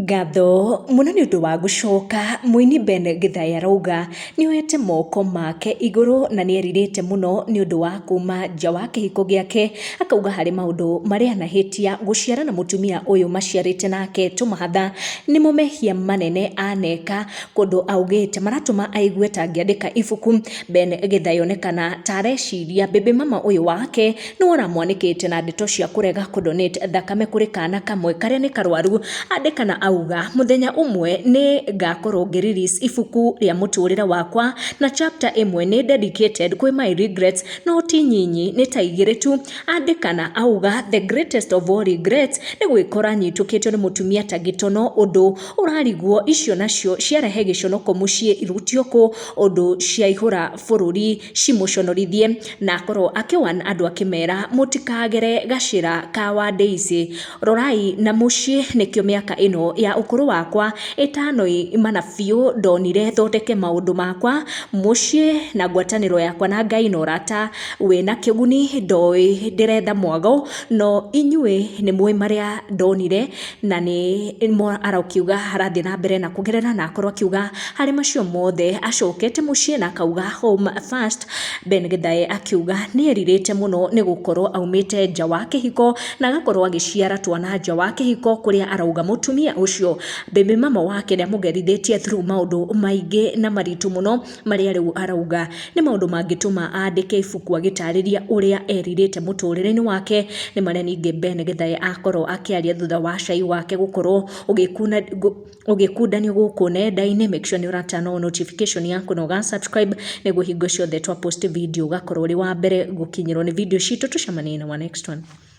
Ngatho mũno nĩ ũndũ wa gũcoka, mũini Ben Gĩthae arauga nĩ oyete moko make igũrũ na nĩ erirĩte mũno nĩ ũndũ wa kuuma nja wa kĩhiko gĩake, akauga harĩ maũndũ marĩa anahĩtia gũciara na mũtumia ũyũ maciarĩte nake tũmahatha, nĩmo mehia manene aneka, kũndũ augĩte maratũma aigue ta angĩandĩka ibuku, Ben Gĩthae onekana ta areciria baby mama ũyũ wake. nĩ ũramwanĩkĩte na ndeto cia kũrega kũ donate thakame kũrĩ kana kamwe karĩa nĩ karwaru andĩka na auga mũthenya ũmwe nĩ ngakorwo ngĩ release ibuku rĩa mũtũrĩre wakwa na chapter ĩmwe nĩ dedicated kwĩ my regrets no ti nyinyi nĩ ta igĩrĩ tu andĩka na auga the greatest of all regrets nĩ gwĩkora nyitũkĩtio nĩ mũtumia ta gĩtono ũndũ ũrariguo icio nacio ciarehe gĩconoko mũciĩ irutio kũ ũndũ ciaihũra bũrũri cimũconorithie na akorwo akĩwan andũ akĩmera mũtikagere gacĩra ka wa Daisy, rorai na mũciĩ nĩkĩo mĩaka ĩno ya ũkũrũ wakwa ĩtanoimana biũ ndonire thondeke maũndũ makwa mũciĩ na ngwatanĩro yakwa na Ngai na ũrata wĩna kĩguni ndoĩ ndĩretha mwago no inyuĩ nĩmũĩ marĩa ndonire. na nĩ mo arakiuga arathiĩ na mbere na kuongerera na akorwo akiuga harĩ macio mothe acokete mũciĩ na akauga home first Ben Githae akiuga nĩ erirĩte mũno nĩ gũkorwo aumĩte nja wa kĩhiko na agakorwo agĩciara twana nja wa kĩhiko kũrĩa arauga mũtumia ũcio baby mama wake nĩ amũgerithĩtie through maũndũ maingĩ na maritũ mũno marĩa rĩu arauga nĩ maũndũ mangĩtũma andĩke ibuku agĩtarĩria ũrĩa erirĩte mũtũrĩre-inĩ wake nĩ marĩa ningĩ Ben Gĩthae akorwo akĩaria thutha wa cai wake gũkorwo ũgĩkuna gũ- ũgĩkundanio gũkũ nenda-inĩ make sure nĩ ũratana o notification yaku na ũga subscribe nĩguo hingo ciothe twa post video ũgakorwo ũrĩ wa mbere gũkinyĩrwo nĩ video citũ tũcemanie in our next one